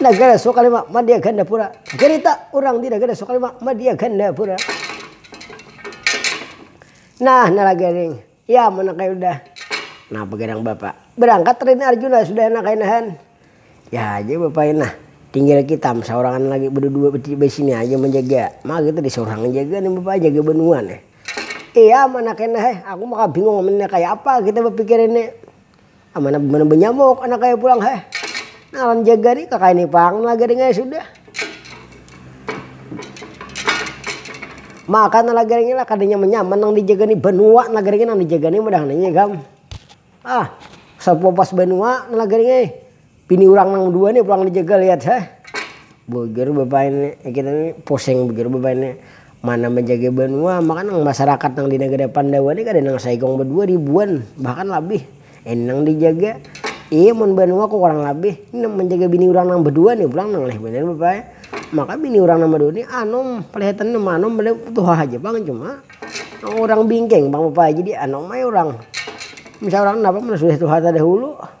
Nagara Sokalima Madya Gandapura Garita urang di Nagara Sokalima Madya Gandapura Nah nalagaring ya mana kaya udah Nah bagadang bapa berangkat Rini Arjuna sudah nah kaya nahan Ya haja bapa ina tinggal kitam saurangan lagi bedudua disini haja manjaga Maka kita di saurang yang jaga nih bapa jaga banua nih Iya mana kaya nah eh aku maka bingung ini kaya apa kita bapikir ini. Amanah banar banyamuk anak kaya pulang heh. Nalan jaga ni kakain ni pang lagaring ai sudah. Maka nang lagaring ni lah kada nyaman nyaman nang di jaga ni banua nang lagaring ni nang di jaga ni mudah nang di jaga am ah sapuas banua nang lagaring ai. Bini urang nang dua ni pulang dijegal lihat ha. Beger bapain ni kita ni pusing beger bapain ni. Mana manjaga banua maka nang masarakat nang di nagara pandawa ni kada nang saikung badua ribuan bahkan labih ini nang dijaga. Iih mun banua ko kurang labih ni nang manjaga bini urang nang badua ni pulang nang lih banar bapa ai. Maka bini urang nang badua ni anum palihatan nang manum padahal tuha haja pang cuma nang urang bingking pang bapa ai jadi anum ai urang. Misal urang napa mun sudah tuha tadahulu.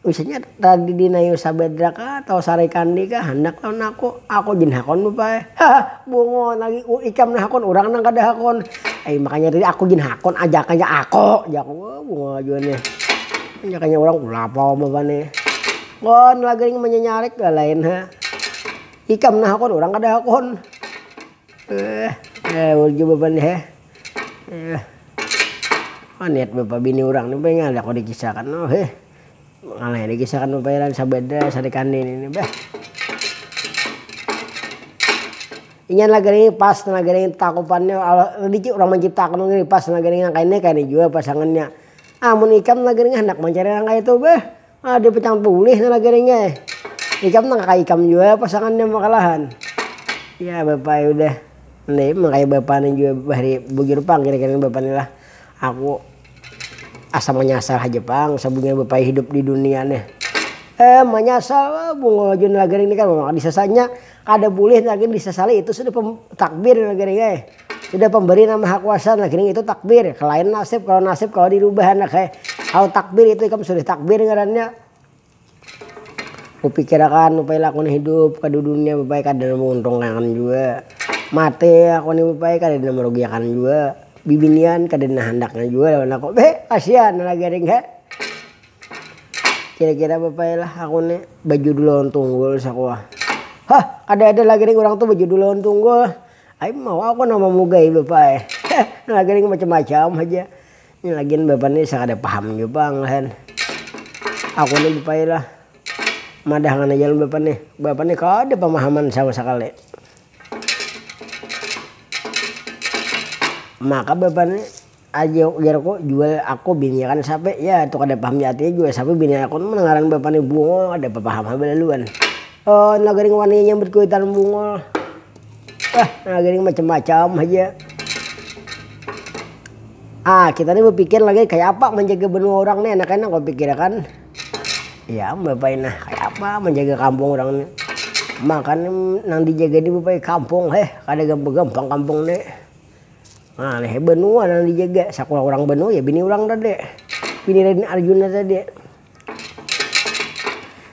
Usinya tadi dinayu sabedra ka tau sarai kandi ka handak lawan aku, aku gin hakun bapa ai. Haha bungul lagi u ikam nang hakun urang nang kada hakun. Ai makanya tadi aku gin hakun ajakannya aku jaku wah bungul lagi wan nih. Ajakannya urang kenapa wan bapa nih. Wan lagi nih manyanyarik dah lain ha. Ikam nang hakun urang kada hakun. Heh, ngawur jua bapa nih he. Maniat bapa bini urang ni beh kada kawa dikisahkan lo heh, ngalai dikisahkan bapairan sabada sari kandi ini ni beh. Inya lagi nih pas lagi nih takupannya ladiki urang manciptakan wong ini pas lagi nih ngangkainya kayani jua pasangannya, amun ikam lagi nih handak mancari nang kaya itu beh Ada batang tulis nang lagi ring ai. Ikam nang kaya ikam jua pasangan nya makalahan. Ya bapa ai udah. Nda ma kaya bapa ni jua bahari bujur pang kira-kira ni bapa ni lah. Aku asa manyasal haja pang sabunya bapa ai hidup di dunia nih. Eh manyasal, bungul jua nang lagi ring ni kan mama kada disasanya. Kada bulih nah gin disasali itu sudah takbir nah gini ai sudah pemberi nang maha kuasa nah gini itu takbir kelain nasib kalo nasib kawa dirubah anak ai kalo takbir itu ikam sudah takbir ngarannya kupikir akan rupai laku ni hidup ka dudunia rupai kada nang mauntung akan jua mati aku ni rupai kada ada nang marugi akan jua bibinian kada ada nang handak nya jua lawan aku beh kasian nah gini ai. Kira-kira bapaya lah aku ni bajudul lawan tunggul sakuwa. Hah kada-ada lagi nih urang tu bajudul lawan tunggul. Ai mawa aku nama mugai bapaya. Heh ini lagi nih macam-macam haja. Ini lagian bapa ni sakada paham jua pang lah kan. Aku ni bapaya lah madahakan haja lawan bapa nih. Bapa nih kada pamahaman sama sakali. Maka bapa ni aja ujarku, jual aku biniakan sape, ya tu kada paham di atinya jual sape biniakan mun ngaran bapa ni Bungul kada bapaham ha balaluan, oh na gering wani nyambut kuitan Bungul, bah na gering macam macam haja, ah kita ni bapikir lagi kaya apa manjaga banua urang ni enak enak bapikir akan, ya am bapai nah kaya apa manjaga kampung urang ni, makan nang dijaga ni bapai kampung heh kada gampang gampang kampung ni. Nah, leher benua nang dijaga, sakulah urang benua ya bini urang tadi, bini Raden Arjuna tadi.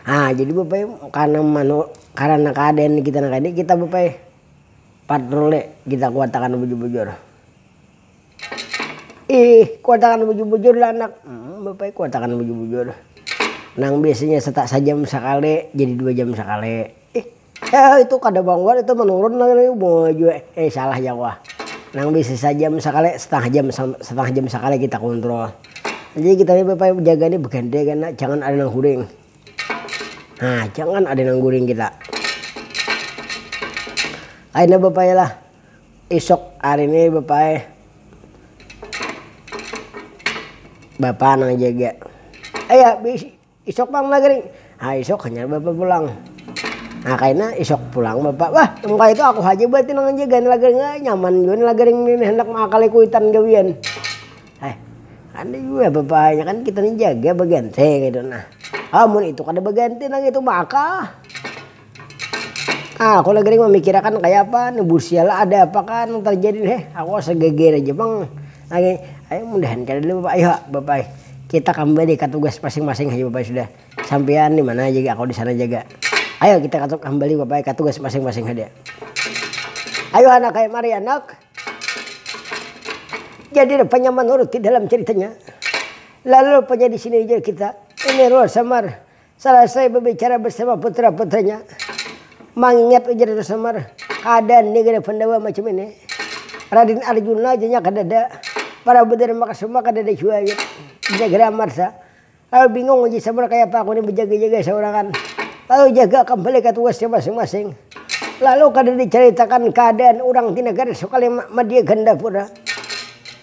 Nah, jadi bapai karena manu karena keadaan ni kita nang kaya ini kita bapai patroli kita kuatakan bujur-bujur. Ih, kuatakan bujur-bujur lah anak. Hum, bapai kuatakan bujur-bujur. Nang biasanya seta sajam sakali jadi dua jam sakali. Ih. Heh itu kada manguat itu menurun lagi muha jua eh salah ja wah nang bisi sajam sakali setengah jam setengah jam sakali kita kontrol jadi kita ni bapaya bejaga ni beganti kena jangan ada nang guring nah jangan ada nang guring kita kaina bapaya lah isok hari ni bapaya bapa nang jaga eh ya bisi. Isuk pang maghrib, ha isuk hanyar bapak pulang. Nah kaina isuk pulang bapak, wah engka itu aku haja berarti nang manjaga ni lagaring, eh nyaman jua ni lagaring ni handak mangakali kuitan gawian. Eh kada jua bapak hanya kan kita ni jaga baganti kaytu nah. Ah mun itu kada baganti nang itu maka. Ah aku lagi mamikirakan kaya apa ni busiala ada apa kah nang terjadi heh aku asa geger aja pang lagi ayu mudahan kada ada apa ayu ha bapai kita kambali ka tugas masing-masing haja bapai sudah sampian dimana haja gin aku disana haja ga ayu kita kambali bapai ka tugas masing-masing haja ayu anak ai mari anak jadi rupanya manurut di dalam ceritanya lalu rupanya disini ja kita ini ruang samar. Salasai babicara barsama putra-putranya, mangingat ujar Raja Semar, kada ni gada Pandawa macam ini. Raden Arjuna ja nya kadada, Prabu Darmakasuma kadada jua jar Jagera Amarta. Lalu bingung ujar Semar kayapa aku ni bajaga-jaga saurangan, lalu jaga ka balik tugasnya masing-masing. Lalu kada dicaritakan kaadaan urang di nagara Sukalima, Madia Gandapura.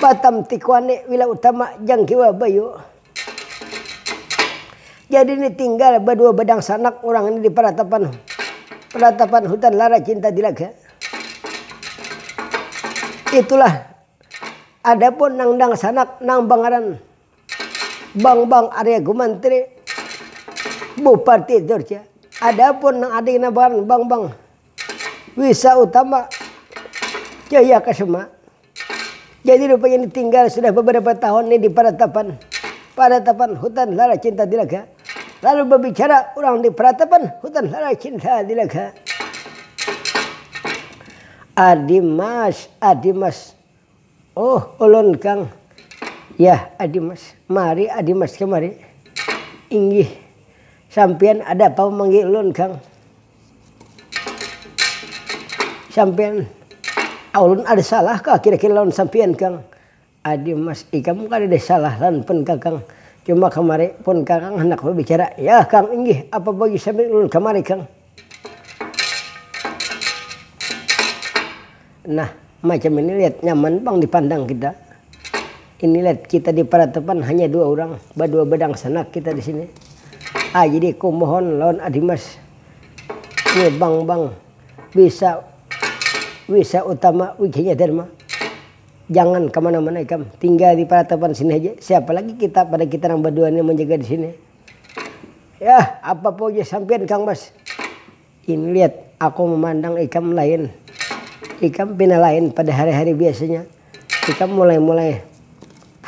Batam tikuan ni wilayah utama jangkiwa bayu. Jadi ni tinggal badua badangsanak urang ni di paratapan paratapan hutan lara cinta tilaga. Itulah adapun nang dangsanak nang bangaran. Bang bang arya gumantri buparti durja adapun nang ada kena bangaran bang bang wisa utama jaya kasuma jadi rupanya ini tinggal sudah beberapa tahun ni di paratapan paratapan hutan lala cinta dilaga lalu babicara urang di paratapan hutan lala cinta dilaga adi mas adi mas. Oh ulun kang, yah adimas, mari adimas kemari, inggih, sampiyan ada pang manggi ulun kang, sampiyan, aulun ada salah kah kira kira lawan sampiyan kang, adimas ikam kadada salah lawan pun kakang, cuma kemari pun kakang handak babicara, yah kang inggih apa bagi sampiyan ulun kemari kang. Nah, macam ini lihat nyaman pang dipandang kita. Ini lihat kita di peratapan hanya dua orang, badua badangsanak kita di sini. Ah, jadi ku mohon lawan adimas nih bang bang wisa wisa utama wikinya dharma jangan kemana mana ikam tinggal di peratapan sini haja siapa lagi kita pada kita nang badua nih manjaga di sini. Yah, apa puji sampiyan Kang Bas. Ini lihat, aku mamandang ikam lain. Ikam pina lain pada hari-hari biasanya. Ikam mulai-mulai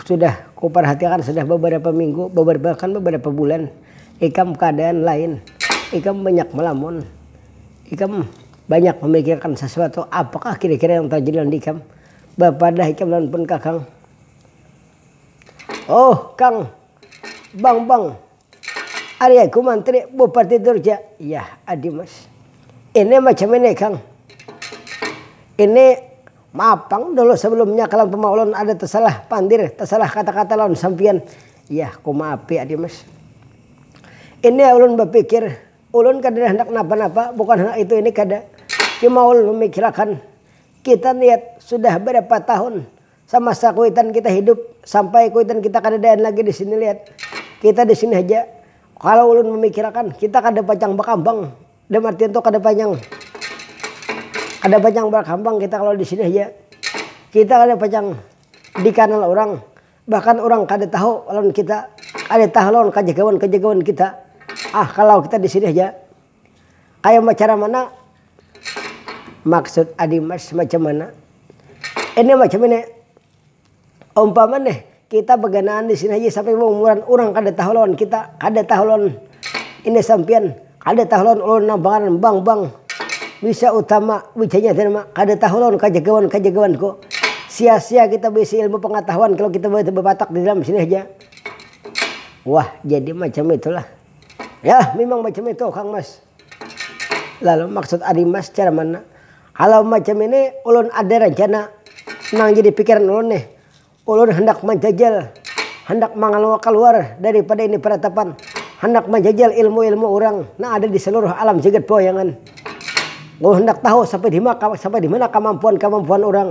sudah kuparhatiakan sudah babarapa minggu, babarapa bahkan babarapa bulan. Ikam kaadaan lain. Ikam banyak malamun. Ikam banyak mamikirakan sasuatu. Apakah kira-kira yang tarjadi lawan ikam? Bapadah ikam lawan pun kakang. Oh, Kang. Bang bang. Ari aku mantri bupati durja. Yah adi mas. Ini macam ini kang. Ini mapang dulu sebelumnya kalam pama ulun ada tesalah pandir tesalah kata kata lawan sampian. Yah ku maapi adi mas. Ini ulun bapikir ulun kadada handak napa napa bukan handak itu ini kada. Cuma ulun mamikilakan kita niat sudah berapa tahun Samasa kuitan kita hidup, sampai kuitan kita kadadaan lagi di sini lihat, kita di sini haja. Kalau ulun mamikirakan, kita kada pacang bakambang, dalam artian tu kada pacang kada pacang bakambang kita kalau di sini haja. Kita kada pacang dikanal urang, bahkan urang kada tahu lawan kita, kada tahu lawan kajagawan-kajagawan kita, ah kalau kita di sini haja. Kaya macara mana? Maksud adi mas macam mana? Ini macam ini, umpama nih kita baganaan di sini haja sampai baumuran urang kada tahu lawan kita, kada tahu lawan ini sampiyan, kada tahu lawan ulun nang pangaran bang bang, bisa utama, wijanya tadi ma, kada tahu lawan kajagawan kajagawanku. Sia sia kita baisi ilmu pangatahuan kalau kita bapatak di dalam sini haja. Wah jadi macam itulah. Yah, mimang macam itu kang mas. Lalu maksud adi mas cara mana. Kalau macam ini ulun ada rencana nang jadi pikiran ulun nih. Ulun handak manjajal, handak mangaluwa kaluar daripada ini peratapan. Handak manjajal ilmu-ilmu urang nang ada di seluruh alam jagat pawayangan. Ulun handak tahu sampai dimana kemampuan-kemampuan urang.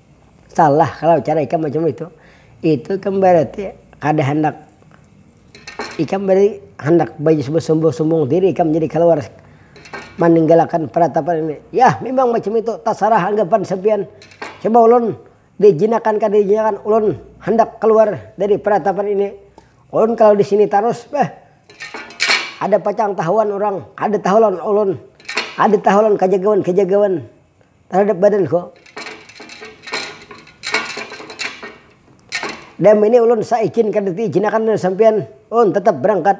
Salah kalau cara ikam macam itu. Itu ikam barati kada handak ikam berarti handak bersumbung-sumbung diri ikam jadi kaluar maninggalakan peratapan ini. Yah mimang macam itu tasarah anggapan sampiyan. Coba ulun diijinakan kada diijinakan ulun handak kaluar dari peratapan ini. Ulun kalau di sini tarus beh ada pacang tahuan urang, kada tahu lawan ulun, kada tahu lawan kajagawan-kajagawan. Taradap badanku. Dam ini ulun saijin kada diijinakan lawan sampiyan, ulun tatap barangkat.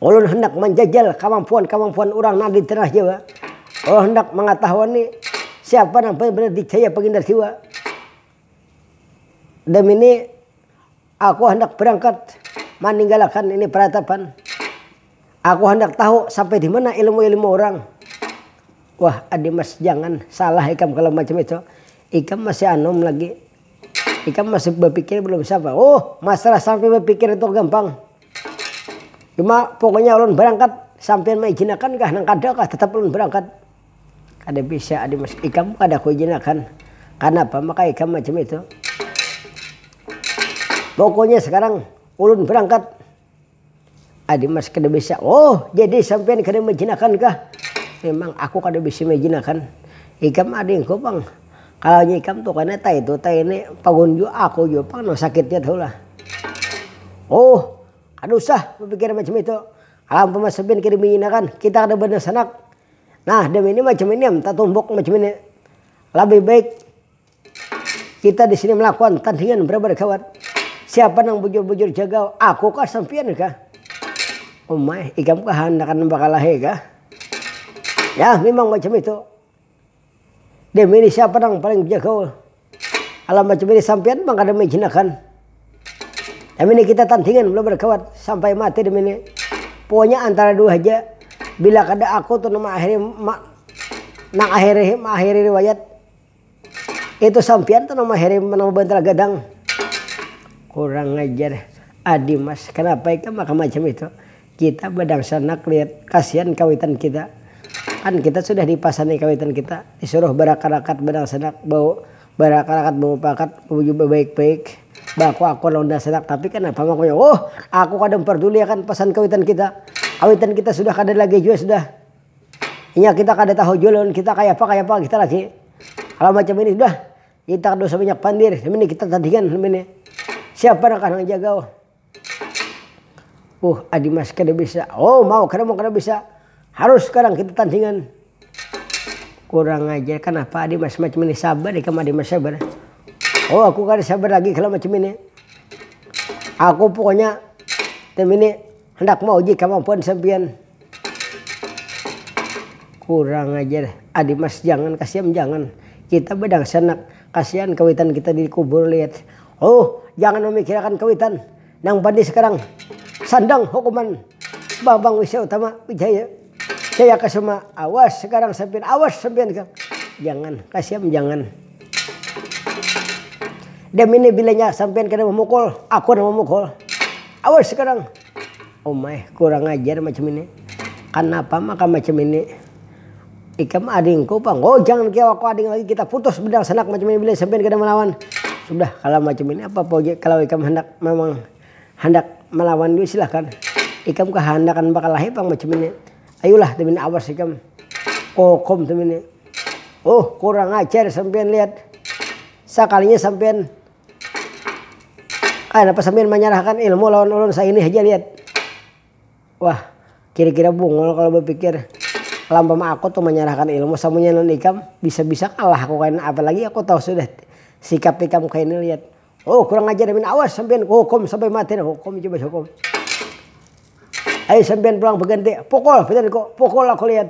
Ulun handak manjajal kamampuan-kamampuan urang nang di Tanah Jawa. Ulun handak mangatahuani siapa nang paling banar dicaya Pangindarsiwa. Dam ini. Aku handak berangkat maninggalakan ini peratapan. Aku handak tahu sampai dimana ilmu-ilmu urang. Wah Adimas jangan salah ikam kalau macam itu. Ikam masih anum lagi. Ikam masih bapikir belum siapa. Huh masalah sampai bapikir itu gampang. Cuma pokoknya ulun berangkat sampiyan maijinakan kah nang kada kah tetap ulun berangkat. Kada bisa adi mas, ikam kada kuijinakan, kanapa maka ikam macam itu. Pokoknya sekarang ulun berangkat. Adi mas kada bisa, oh jadi sampian kada maijinakankah. Memang aku kada bisa maijinakan, ikam adingku pang, kalaunya ikam tu kena entah itu entah ini, pagun jua aku jua pang nang sakitnya tu lah. Oh kada usah bapikir macam itu, kalau umpama sampian kada maijinakan kita kada banasanak. Nah dem ini macam ini am tatumbuk macam ini labih baik kita disini melakukan tandingan berabad kawan siapa nang bujur-bujur jaga aku kah sampian kah umai ikam kah handak bakalahi kah yah memang macam itu. Deh milih siapa nang paling bisa gaul. Alah macam ini sampiyan pang kada maijinakan. Kami ni kita tandingan mula barkawan sampai mati demi ni. Pokoknya antara dua haja. Bila kada aku tu nang maakhiri ma nang akhiri maakhiri riwayat. Itu sampiyan tu nang maakhiri nang mabantal gadang. Kurang ajar. Adimas, kanapa ikam maka macam itu. Kita badangsanak liat kasian kawitan kita, kan kita sudah dipasani kawitan kita disuruh barakat-rakat badangsanak bau barakat-rakat bamupakat babuju babaik-baik baaku-akuan lawan dangsanak tapi kanapa mangkunya wuhh aku kada memperduli akan pasan kawitan kita, kawitan kita sudah kada lagi jua sudah inya kita kada tahu jua lawan kita kayapa kayapa kita lagi hal macam ini sudah kita kada usah banyak pandir ini kita tandingan ini siapa nang akan manjagau. Uh, Adi Mas kada bisa. Oh, mau kada mau kada bisa. Harus sekarang kita tandingan. Kurang ajar, kanapa Adi Mas macam ini? Sabar ikam Adi Mas sabar. Oh, aku kada sabar lagi kalau macam ini. Aku pokoknya tim ini hendak mauji kemampuan sampian. Kurang ajar. Adi Mas jangan kasihan jangan. Kita berdangsanak. Kasihan kawitan kita dikubur lihat. Huh, jangan mamikirakan kawitan nang bani sakarang. Sandang hukuman Bambang Wisya Utama Wijaya Jayakusuma awas sakarang sampiyan awas sampiyan kang. Jangan, kasiam jangan. Damini bilanya sampiyan kada mamukul, aku nang mamukul. Awas sakarang. Umai, kurang ajar macam ini. Kanapa maka macam ini. Ikam adingku pang. Oh jangan kaya aku ading lagi kita putus bedang sanak macam ini bila sampian kada malawan. Sudah kalau macam ini apa apa ja kalau ikam handak memang handak malawan jua silahkan. Ikam kahandakan bakalahi pang macam ini. Ayulah tumini awas ikam kokom tumini. Oh kurang ajar sampian lihat sakalinya sampian kaya napa sampian manyarahkan ilmu lawan ulun saini haja lihat. Wah, kira-kira bungul kalo bapikir. Lampam aku tu manyarahkan ilmu samunya non ikam, bisa-bisa kalah aku kaina apalagi aku tahu sudah sikap ikam kaini liat. Hoo kurang ajar amin awas sampiyan kuhukum sampai mati nah hukum coba hukum. Ayu sampiyan pulang baganti, pukul pitanku, pukul aku liat.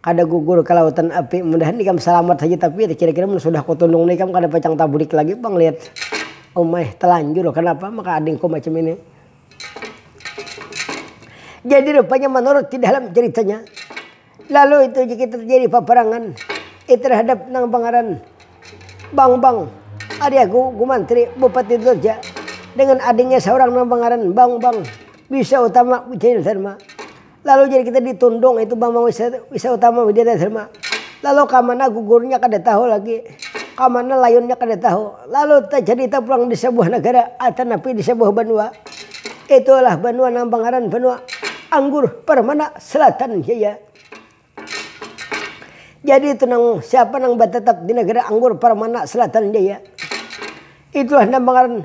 Kada gugur ka lautan api. Mudahan ikam salamat haja tapi kira-kira mun sudah kutundung ni ikam kada pacang tabulik lagi pang lihat. Umai, talanjur kanapa maka adingku macam ini. Jadi rupanya manurut di dalam ceritanya lalu itu jika terjadi paparangan di terhadap nang pangaran Bangbang ari aku gumantri bupati Durja dengan adingnya saurang nang pangaran Bangbang bisa utama wijayanusarma Lalu jar kita di Tundung itu Bambang Wisa Utama Widya Dharma. Lalu kamana gugurnya kada tahu lagi, kamana layunnya kada tahu. Lalu tacadita pulang di sabuah nagara atanapi di sabuah banua. Itu adalah banua nang bangaran Banua Anggur Permana Selatan Jaya. Jadi itu nang siapa nang batatap di nagara Anggur Permana Selatan Jaya. Itulah nang bangaran.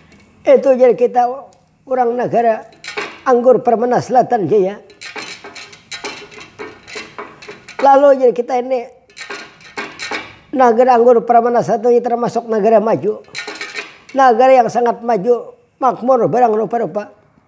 Itu jar kita urang nagara anggur permena selatan jaya. Lalu jar kita ini nagara anggur permena selatan ini termasuk nagara maju. Nagara yang sangat maju, makmur barang rupa-rupa.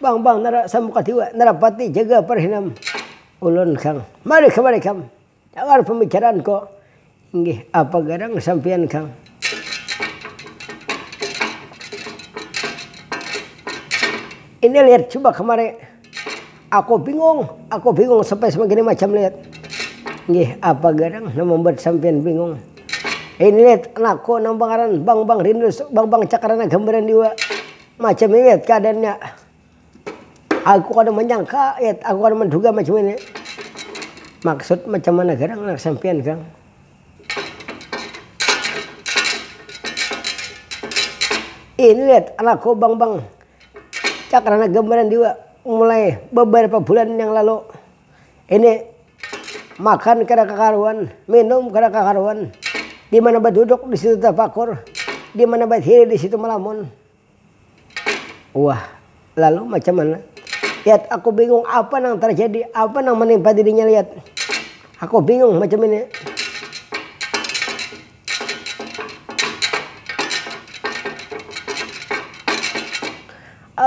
Bang bang nara samukat jua nara pati jaga parhinam ulun kang mari kamari kam dangar pambicaraan ko inggih apa garang sampiyan kang ini lihat coba kamari aku bingung aku bingung sampai segini macam lihat inggih apa garang nang mambuat sampiyan bingung ini lihat anakku nang pangaran bang bang rindu bang bang cakar nang gambaran jua. Macam ini Yet keadaannya. Aku kada manyangka Yet, aku kada manduga macam ini. Maksud macam mana garang anak sampiyan garang. Ini Yet anakku bang bang. Cakrana gambaran jua mulai beberapa bulan yang lalu. Ini makan kada kakaruan, minum kada kakaruan, dimana baduduk disitu tapakur, dimana batiri disitu malamun. Wah lalu macam mana yat aku bingung apa nang tarjadi apa nang manimpa dirinya yat aku bingung macam ini.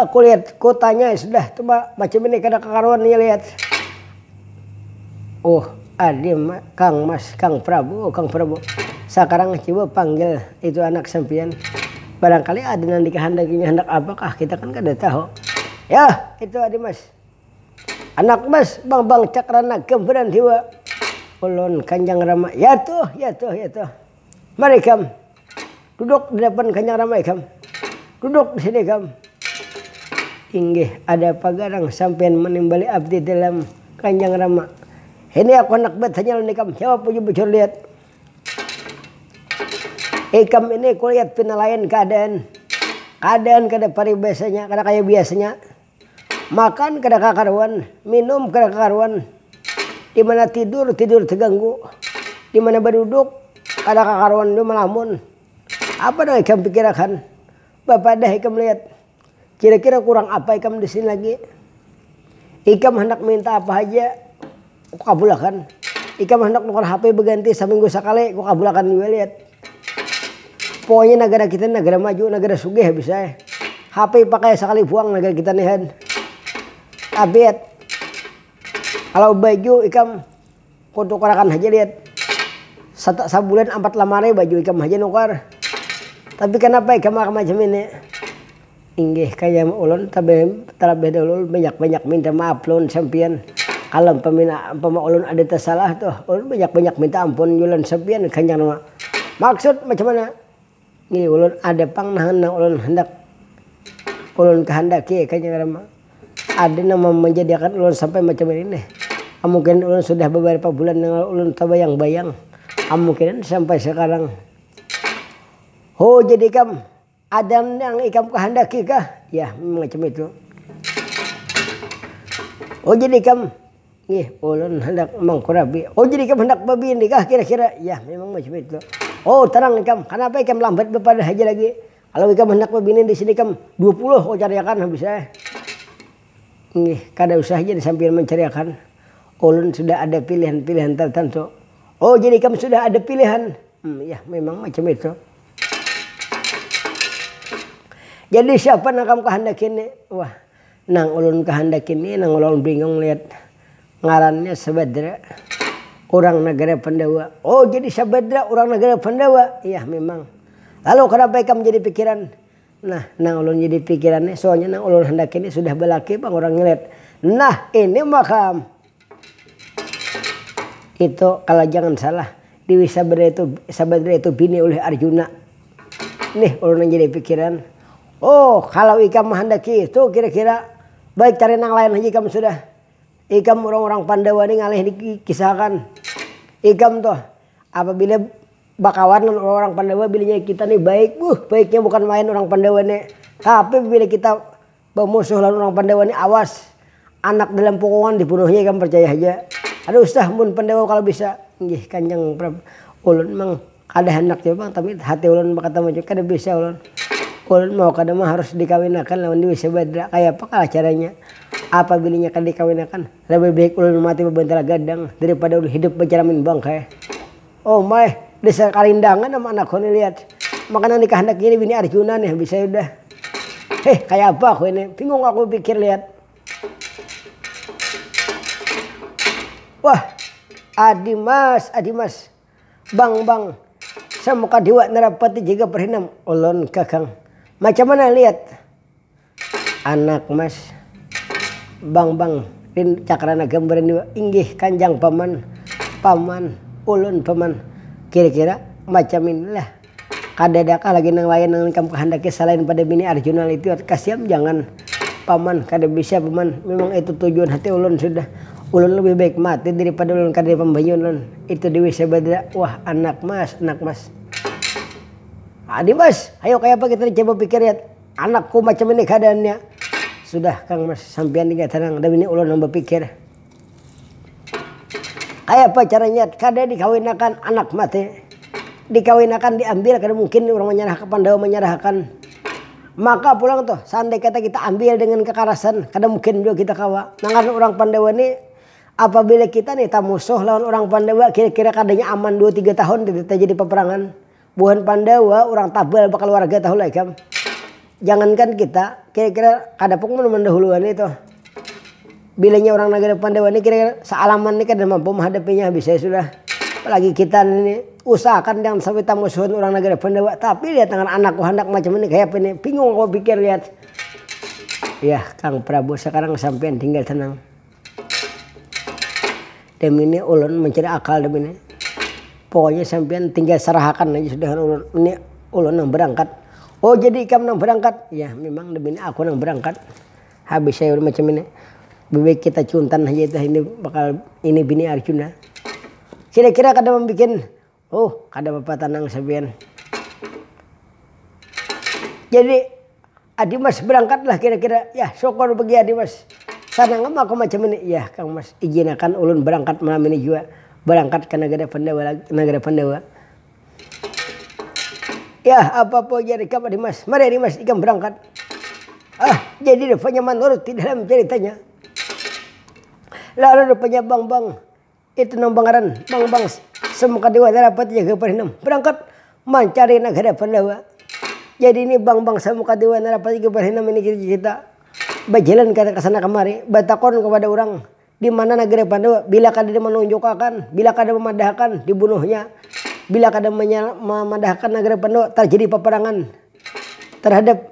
kulihat kotanya sudah coba macam ini kada kakaruan nih lihat uh ade kang mas kang prabu kang prabu sakarang coba panggil itu anak sampian barangkali ada nang dikahandakinya handak apakah kita kan kada tahu yah itu ade mas. Anak mas, bang bang cakrana gambaran dewa ulun kanjang rama, yatuh yatuh yatuh, mari ikam duduk di dapan kanjang rama ikam, duduk di sini ikam, inggih ada apa garang sampian manimbali abdi dalam kanjang rama, ini aku handak batanya lawan ikam jawab bujur bujur lihat, ikam ini kulihat pina lain keadaan, keadaan kada paribasanya kada kaya biasanya. Makan kada kakaruan, minum kada kakaruan, dimana tidur tidur teganggu, dimana baduduk kada kakaruan tu melamun, apa nang ikam pikirakan, bapadah ikam lihat kira-kira kurang apa ikam disini lagi, ikam handak minta apa haja. Kukabulakan. Ikam handak nukar hape beganti saminggu sakali, kukabulakan jua liat. Pokoknya nagara kita ni nagara maju, nagara sugih habis ai. Hape pakai sakali puang nagara kita ni han. Abet. Kalau baju ikam kutukarakan haja liat. Sata sabulan ampat lamari baju ikam haja nukar. Tapi kanapa ikam macam ini. Inggih kaya ulun talabih dahulu ulun banyak banyak minta maaf lawan sampiyan kalo umpama ulun ada tasalah tuh ulun banyak banyak minta ampun jua lawan sampiyan kanya nang maksud macam mana nih ulun ada pang nang ulun handak ulun kahandaki kaya ngarannya ada nang manjadiakan ulun sampai macam ini nih kemungkinan ulun sudah beberapa bulan nang lalu ulun tabayang bayang kemungkinan sampai sekarang ho jadi ikam. Ada nang ikam kahandaki kah? Ya, macam itu. Oh, jadi ikam, nih, ulun handak mangkurapi. Oh, jadi ikam handak babini kah kira-kira? Ya, memang macam itu. Oh, tenang ikam, kanapa ikam lambat bapadah haja lagi. Kalau ikam handak babini di sini ikam dua puluh ku cariakan habis ai. Nih, kada usah jadi sampiyan mancariakan. Ulun sudah ada pilihan-pilihan tertentu. Oh, jadi ikam sudah ada pilihan? Yah, memang macam itu. Jadi siapa nang kam kahandaki ni? Wah, nang ulun kahandaki ni, nang ulun bingung lihat ngarannya Sabadra, urang nagara Pandawa. Oh, jadi Sabadra urang nagara Pandawa? Iya, mimang. Lalu kanapa ikam jadi pikiran? Nah, nang ulun jadi pikiran ni, soalnya nang ulun handaki ni sudah balaki pang urangnya lihat. Nah, ini ma kam. Itu kalo jangan salah, Dewi Sabadra itu bini ulih Arjuna. Nih ulun nang jadi pikiran, oh kalo ikam mahandaki itu kira-kira baik cari nang lain haja ikam sudah. Ikam urang-urang Pandawa nih ngalih dikisahakan. Ikam tuh apabila bakawan lawan urang-urang Pandawa bilinya kita nih baik, wuh baiknya bukan main urang Pandawa nih. Tapi bila kita. Bamusuh lawan urang Pandawa ni awas. Anak dalam pukungan dibunuhnya ikam parcaya haja. Kada usah mun Pandawa kalu bisa. Nggih kanjang prab. Ulun mang kada handak jua pang tapi hati ulun bakata macam kada bisa ulun. Ulun mau kada ma harus dikawinakan lawan Dewi Sabadra. Kayapa kah caranya. Apabila inya kada dikawinakan, labih baik ulun mati babantal gadang daripada ulun hidup bacaramin bangkai. Oh my, dasar karindangan am anak ko ni lihat makanan dikahandak ini bini Arjuna nih habis saya udah heh kaya apa ko ini bingung aku pikir lihat wah adi mas adi mas bang bang samuka dewa narapati jaga perhinam ulun kakang macam mana lihat. Anak mas, bang bang pin cakrana gambaran jua inggih kanjang paman, paman, ulun paman, kira kira macam ini lah, kadadakah lagi nang lain nang ikam kahandaki salain pada bini arjuna litiwat kasiam jangan paman kada bisa paman memang itu tujuan hati ulun sudah, ulun lebih baik mati daripada ulun kada di pambanyuan ulun itu dewi sabadra wah anak mas, anak mas. Adi mas, hayo kayapa kita ni coba pikir ya Anak ku macam ini keadaannya. Sudah kang mas, sampian inya tenang, dah bini ulun nang bapikir. Kayapa caranya kada dikawinakan anak mati. Dikawinakan diambil kada mungkin urang manyarah ke pandawa manyarahakan. Maka pulang tuh seandai kata kita ambil dengan kekarasan kada mungkin jua kita kawa. Nang ngarannya urang pandawa ni apabila kita ni tamusuh lawan urang pandawa kira-kira kadanya aman dua tiga tahun kita tajadi paparangan. Buhan Pandawa urang tabal bakaluarga tahulah ikam. Jangankan kita, kira-kira kada pung mun mandahulu wani tuh. Bilanya urang nagara Pandawa ni kira-kira saalaman ni kada mampu mahadapinya habis ai sudah. Apalagi kita ni, usahakan jangan sampai tamusuhan urang nagara Pandawa. Tapi lihat tangan anakku handak macam ini kayapa ini, bingung aku pikir lihat. Yah, Kang Prabu sakarang sampiyan tinggal tenang. Demi ni ulun mancari akal demi ni. Pokoknya sampiyan tinggal sarahakan aja sudah lawan ulun. Ini ulun nang berangkat. Oh jadi ikam nang berangkat? Ya memang demi ni aku nang berangkat. Habis saya ulun macam ini. Lebih baik kita cuntan haja dah ini bakal ini bini arjuna. Kira-kira kada membuat. Huh kada papa tanang sabian. Jadi Adi Mas berangkat lah kira-kira. Yah syukur bagi Adi Mas. Sanang am aku macam ini. Yah Kang Mas, ijinakan ulun berangkat malam ini jua. Berangkat ka Nagara Pandawa lagi, Nagara Pandawa. Yah apa-apa ujar ikam Adi Mas. Mari Adi Mas ikam berangkat. Ah jadi rupanya manurut di dalam ceritanya. Lalu rupanya Bang Bang. Itu nang pangaran Bang Bangs semuka dewasa dapat jaga parinam berangkat mancari nagara Pandawa. Jadi ini Bang Bangs semuka dewasa dapat jaga parinam ini kita bajalan kesana kemari batakun kepada urang dimana nagara Pandawa bila kada dimanunjukakan bila kada mamadahakan dibunuhnya bila kada mamadahakan nagara Pandawa terjadi peperangan terhadap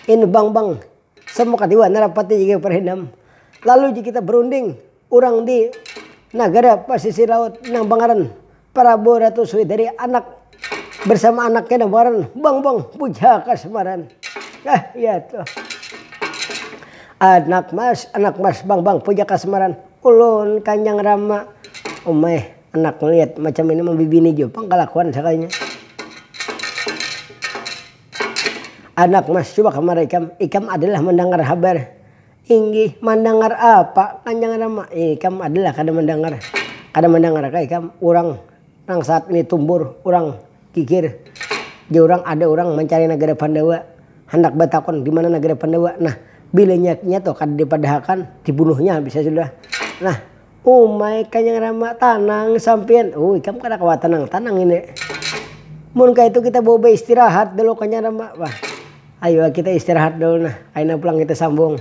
ini Bang Bangs semuka dewasa dapat jaga parinam lalu kita berunding. Urang di nagara pasisir laut nang bangaran Prabu Ratu Swidari anak bersama anaknya nang bangaran Bambang Puja Kasmaran. Nah, iya tuh. Anak mas, anak mas Bambang Puja Kasmaran. Ulun kanyang rama. Umai, anak liat macam ini mambibini jua pang kalakuan sakalinya. Anak mas, coba kamari ikam. Ikam adalah mandangar habar. Inggih, mandangar apa kan jangan rama. Ikam adalah kada mandangar. Kada mandangarkah ikam urang nang saat ini tumbur urang gigir di urang ada urang mancari nagara Pandawa handak batakun di mana nagara Pandawa nah bila nya nya tuh kada dipadahakan dibunuhnya habisnya sudah nah Umai kanyang ramak tanang sampian oh ikam kada kawa tanang tanang ini mun kaitu kita bawa baistirahat dulu kanyang ramak bah ayu ah kita istirahat dulu nah kaina pulang kita sambung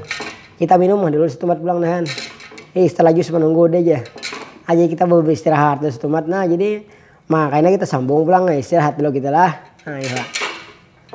kita minum ah dulu setumat pulang nahan ih setelah jus manunggu deh ja aja kita bawa baistirahat dulu setumat nah jadi ma kaina kita sambung pulang istirahat dulu kita lah nah.